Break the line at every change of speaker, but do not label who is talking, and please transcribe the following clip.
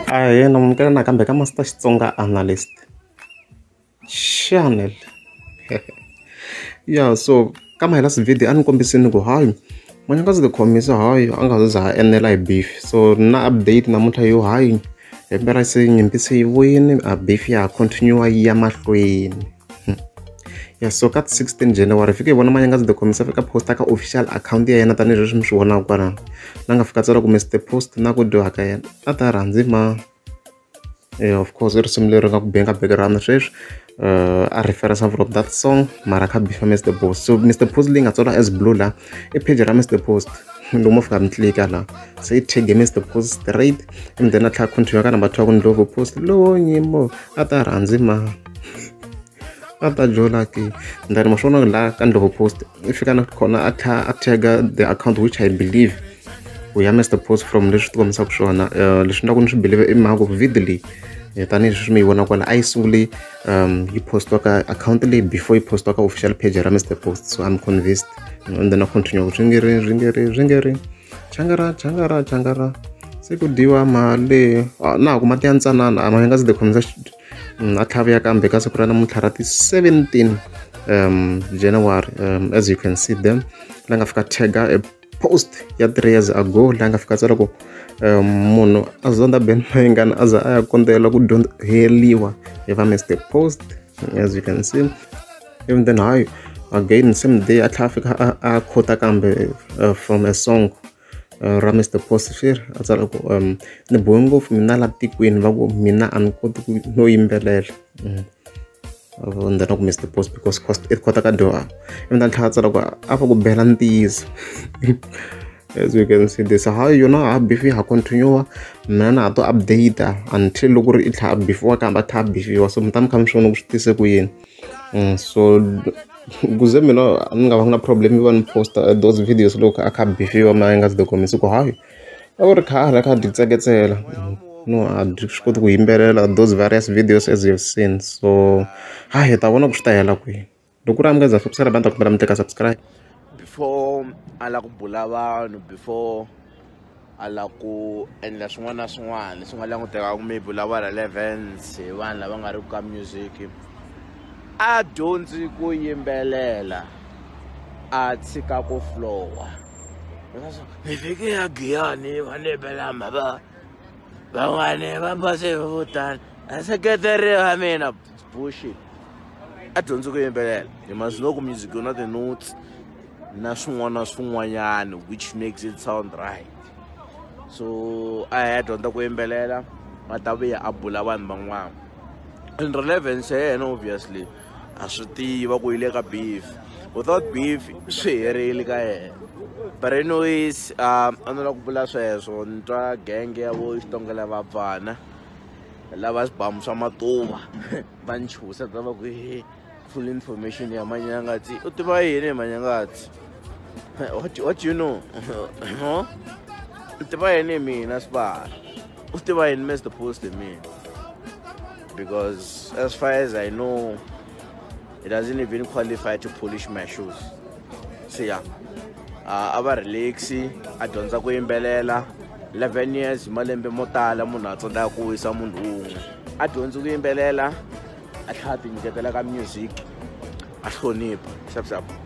a hi yena munukela nakambe ka master xitsonga analyst channel ya so ka mahela sivhidi a ni kombisini ku hayi manyakazi ti khomisa hayi a nga za ha enela hi beef so na update namuntlha yo hayi hi mpela se nyimpi se yi vuyini a beef ya continue yi ya mahlweni ya so ka ti 16 january fike hi vona manyanga ndzi tikhomisa fika posta ka official account ya yena tanihileswi mi swi vonaka kwalano la nga fika tsala ku mr post na ku dyoha ka yena a ta rhandzi ma yeah, of course i risimu leri nga ku benga background sweswi uh, a reference from that song mara kha bifa mr post so mr post leyi nga tsala as blue la i page ra mr post loko mo fika mi tlika la se i tag mr post straight and then a tlha continue ka number two ya ku ni love post lowo nyimo a ta rhandzi ma a ta jola ke then ma swona la ka ndlovu post i fika na khona a tlha a tagga the account which i believe u ya mr post from leswi ti kombisaka swona eh, leswi ni ku ni swi believe i mhaka ku video leyi eh, tanihileswi mi yi vona kwala a yi sunguli um yi postiwa ka account leyi before yi postiwa ka official page ra mr post so i'm convinced and then a continue ku ringeri ringeri ringeri changara changara changara se ku dyiwa mali ah, na ha ku mati ya ntsanana a ma nga se ti khomisa mm, a tlhavuya kambe ka siku ra namuntlha ra ti-17 um january um, as you can see them la nga fika tagger a post ya three years ago la nga fika tsala ku um, munhu a zonda ben mayingana a za a ya kondzela ku dyondzeriwa hi va mr post as you can see even then hayi again same day a tlhela a fika a khota kambe uh, from a song uh, ra mr posfir a tsala ku um ni bohe ngopfu mina la tikweni va ku mina a ni koti ku no yimbelela mm. and then ku mr post because cost it kota ka dyoha ivi ta tlhela tsala ku a va ku bela ntiyiso as you can see this how you know abf ha continue mina na to update until loko ri i tlha abf wa kamba tha abf wa so mutani kha mi swona ku swi tise ku yini Mm, so kuze mina ni nga va na problem yo va ni posta uh, those videos loko a kha bifiwa mina nga si dokumisa ku hayi a ku ri khale a kha dyi tseketsela mm, no a dyi swi koti ku yimbelela those various videos as you've seen so ha hi ta vona ku swi ta hela kwihi loko u ri amukeza subscribe a ni ta kombela mi teka subscribe before a lava ku bula vanhu before a la ku endla swin'wana na swin'wana leswi nga langutekaku maybe u lava relevance hi vanhu lava nga ri ku ka music a dyondzi ku yimbelela a tshika ku flowa hi fike ya giyani va ni yimbelama va van'wani va base vo tani a seketeri va mina Bullshit. A dyondzi ku yimbelela. He must know ku music yona the notes na swin'wana na swin'wanyana which makes it sound right. So a ya dyondza ku yimbelela a ta vuya a bula vanhu van'wana. And relevance ya yena obviously a swi tiva ku yi le ka beef. Without beef swi herile ka yena. But anyways, um, a ni la ku bula sweswo ni twa genge ya vo xitongela vabvana. lava swibamu swa matuva va ni chusa ta va ku he full information ya manyangatsi u tiva yini hi manyangatsi what, what you know no u tiva yini hi mina sibara u tiva yini mr post hi mina because as far as i know it doesn't even qualify to polish my shoes siya a va relaxi a dyondza ku yimbelela 11 years malembe mo tala munhu a tsandzeka ku wisa munhu wun'we a dyondzi ku yimbelela a tlhela a tinyiketela ka music a hlonipha xavusavo